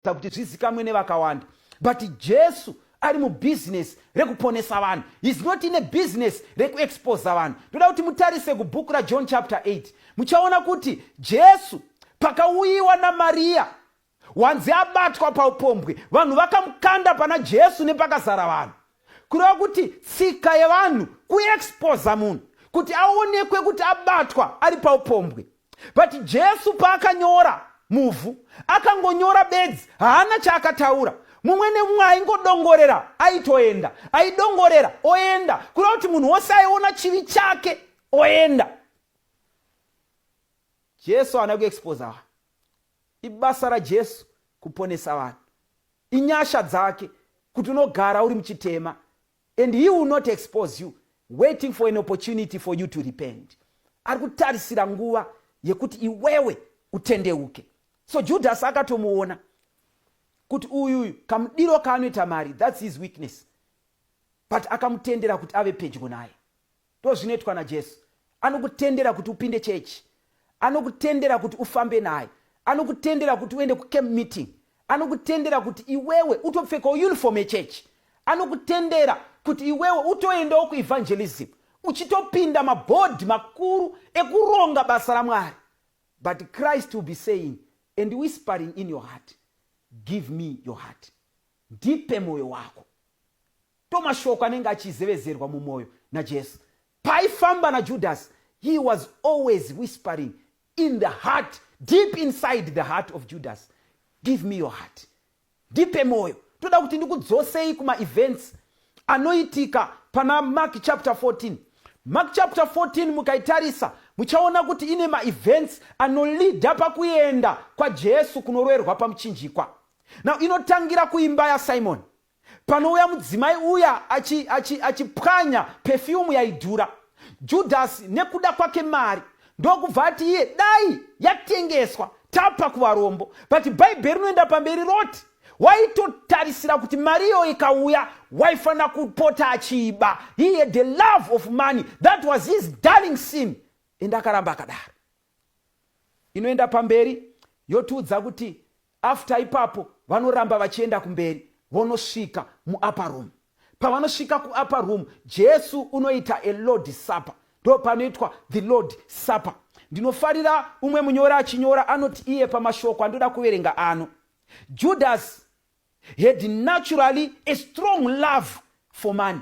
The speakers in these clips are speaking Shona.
kuita kuti zvizikamwe nevakawanda but jesu ari mubhizinesi rekuponesa vanhu his not ine bhizinesi rekuexposa vanhu ndoda kuti mutarise kubhuku rajohn chapter 8 muchaona kuti jesu pakauyiwa namariya wanzi abatwa paupombwe vanhu vakamukanda pana jesu nepakazara vanhu kureva kuti tsika yevanhu kuexposa munhu kuti aonekwe kuti abatwa ari paupombwe but jesu paakanyora muvhu akangonyora bedzi haana chaakataura mumwe nemumwe aingodongorera aitoenda aidongorera oenda kuda kuti munhu wose aiona chivi chake oenda jesu haana kuexposa vanhu ibasa rajesu kuponesa vanhu inyasha dzake kuti unogara uri muchitema And he will not expose you waiting for an opportunity for you to repent. Ari kutarisira nguva yekuti iwewe utendeuke. So Judas akatomuona kuti uyu uyu kamudiro kaanoita mari that's his weakness. But akamutendera kuti ave pedyo naye. Ndozvinoitwa naJesu. Anokutendera kuti upinde church. Anokutendera kuti ufambe naye. Anokutendera kuti uende kucamp meeting. Anokutendera kuti iwewe utopfekawo uniform yechurch. Anokutendera kuti iwewe utoendawo kuevangelism uchitopinda mabhodhi makuru ekuronga basa raMwari. But Christ will be saying and whispering in your heart, give me your heart. Ndipe mwoyo wako. Ndomashoko anenge achizevezerwa mumwoyo naJesu. Paaifamba naJudhasi, he was always whispering in the heart, deep inside the heart of Judhasi, give me your heart. Ndipe mwoyo. Toda kuti ndikudzosei kumaevents anoitika pana Mark chapter 14. Mark chapter 14 mukaitarisa muchaona kuti ine maevents anolida pakuenda kwaJesu kunoroerwa pamuchinjikwa. Now inotangira kuimba yaSimon panouya mudzimai uya achipwanya achi, achi pefiyumu yaidhura. Judhasi nekuda kwake mari ndokubva ati iye dai yatengeswa tapa kuvarombo, but bhaibheri rinoenda pamberi roti waitotarisira kuti mari iyo ikauya waifanira kupota achiiba. He had the love of money that was his darling sin, ende akaramba akadaro. inoenda pamberi yotiudza kuti after ipapo vanoramba vachienda kumberi vonosvika muupper room pavanosvika kuupper room jesu unoita a lord supper ndo panoitwa the lord supper ndinofarira umwe munyori achinyora anoti iye pamashoko andoda kuverenga ano judasi had naturally a strong love for money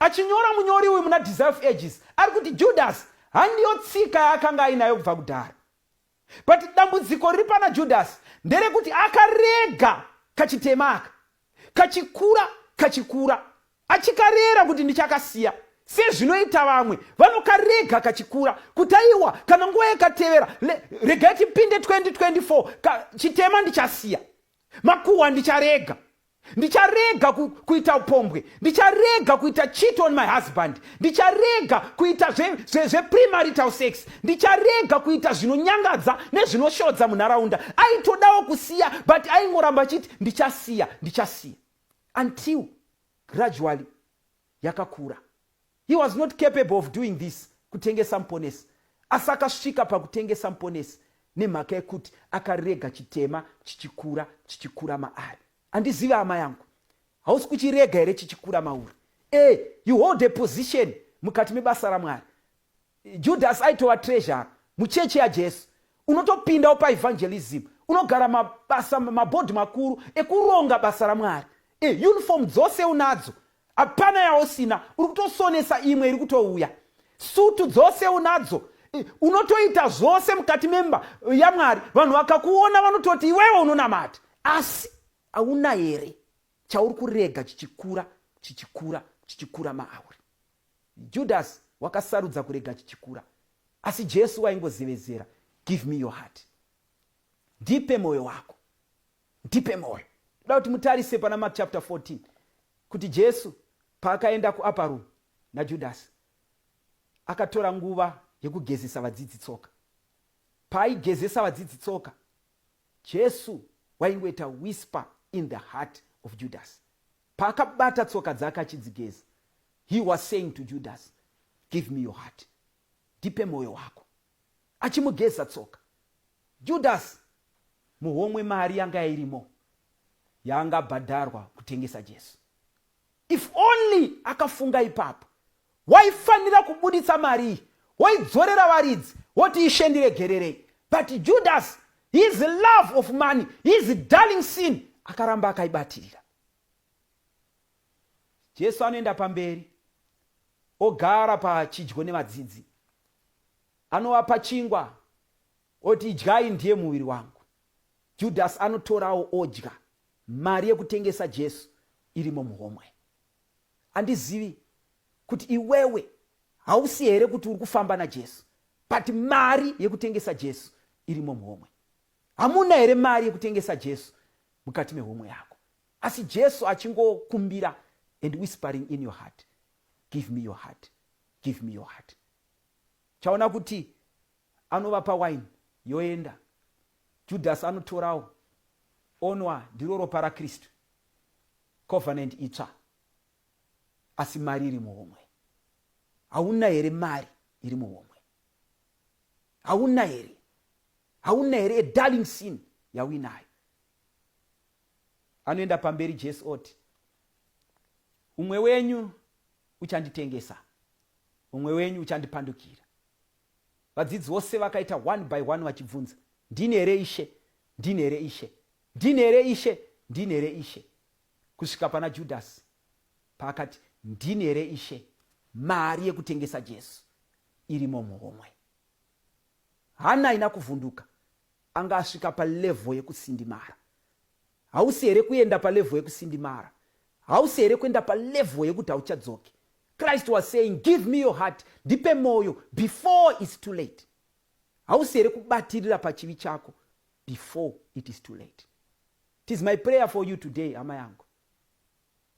Achinyora munyori uyu muna Desire of Ages ari kuti Judasi handiyo tsika yaakanga ainayo kubva kudhara. But dambudziko riri pana Judasi nderekuti akarega kachitema aka kachikura kachikura achikarera kuti ndichakasiya sezvinoita vamwe vanokarega kachikura kuti aiwa kana nguva yakatevera regai tipinde 2024 chitema ndichasiya makuhwa ndicharega ndicharega ku, kuita upombwe ndicharega kuita cheat on my husband ndicharega kuita zvepremarital zve, zve sex ndicharega kuita zvinonyangadza nezvinoshodza munharaunda aitodawo kusiya but aingoramba achiti ndichasiya ndichasiya until gradually yakakura. He was not capable of doing this, kutengesa muponesi. Asi akasvika pakutengesa muponesi nemhaka yekuti akarega chitema chichikura chichikura maari. Andizive hama yangu. Hausi kuchirega here chichikura mauri? E, you hold a position mukati mebasa raMwari. Judas aitova treasurer muchechi yaJesu. Unotopindawo paevangelism, unogara mabasa mabhodhi makuru ekuronga basa raMwari. E, uniform dzose unadzo, hapana yausina. Uri kutosonesa imwe iri kutouya. Sutu dzose unadzo, e, unotoita zvose mukati memba yaMwari. Vanhu vakakuona vanototi iwewe unonamata, asi hauna here chauri kurega chichikura chichikura chichikura maauri? Judhasi wakasarudza kurega chichikura, asi Jesu waingozevezera, Give me your heart. Ndipe mwoyo wako. Ndipe mwoyo. Ndoda kuti mutarise pana Mark chapter 14 kuti Jesu paakaenda kuupper room naJudhasi akatora nguva yekugezesa vadzidzi tsoka. Paaigezesa vadzidzi tsoka, Jesu waingoita whisper in the heart of Judhasi. Paakabata tsoka dzake achidzigeza, he was saying to Judas, give me your heart, ndipe mwoyo wako. Achimugeza tsoka. Judas, muhomwe mari yanga irimo yaanga abhadharwa kutengesa Jesu. If only akafunga ipapo, waifanira kubuditsa mari iyi, woidzorera varidzi, woti ishe ndiregererei. But Judas, his love of money, his darling sin, akaramba akaibatirira. Jesu anoenda pamberi ogara pachidyo nevadzidzi. Anovapa chingwa oti idyai ndiye muviri wangu. Judhasi anotorawo odya. Mari yekutengesa Jesu irimo muhomwe. Andizivi kuti iwewe hausi here kuti uri kufamba naJesu but mari yekutengesa Jesu irimo muhomwe. Hamuna here mari yekutengesa Jesu mukati mehomwe yako? Asi Jesu achingokumbira and whispering in your heart, give me your heart, give me your heart. Chaona kuti anovapa wine yoenda. Judas anotorawo onwa ndiro ropa raKristu. Covenant itsva. Asi mari iri muhomwe. Hauna here mari iri muhomwe? hauna here hauna here a darling sin yauinayo anoenda pamberi jesu oti umwe wenyu uchanditengesa umwe wenyu uchandipandukira vadzidzi vose vakaita one by one vachibvunza ndini here ishe ndini here ishe ndini here ishe ndini here ishe kusvika pana judhasi paakati ndini here ishe mari yekutengesa jesu irimo muhomwe. Hana haina kuvhunduka, anga asvika palevho yekusindimara. Hausi here kuenda palevho yekusindimara? Hausi here kuenda palevho yekuti hauchadzoki? Christ was saying, give me your heart, ndipe moyo before it's too late. Hausi here kubatirira pachivi chako before it is too late? Tis my prayer for you today, hama yangu.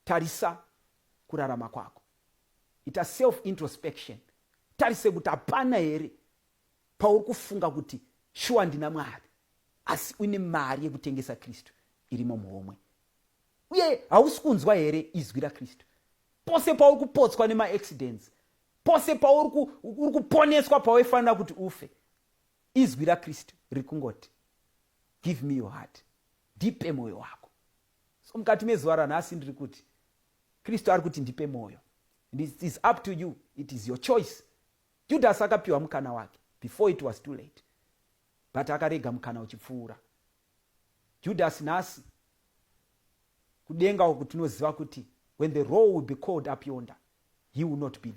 tarisa kurarama kwako ita self introspection tarise kuti hapana here pauri kufunga kuti shuwa ndina mwari asi une mari yekutengesa kristu irimo muhomwe uye hausi kunzwa here izwi rakristu pose pauri kupotswa nemaaccidents pose pauri kuponeswa pawaifanira kuti ufe izwi rakristu riri kungoti give me your heart ndipe mwoyo wako So mukati mezuva ranhasi ndiri kuti Kristu ari kuti ndipe mwoyo. And it is up to you, it is your choice. Judhasi akapiwa mukana wake before it was too late. But akarega mukana uchipfuura. Judhasi nhasi kudenga uku tinoziva kuti when the role will be called up yonder, he will not be there.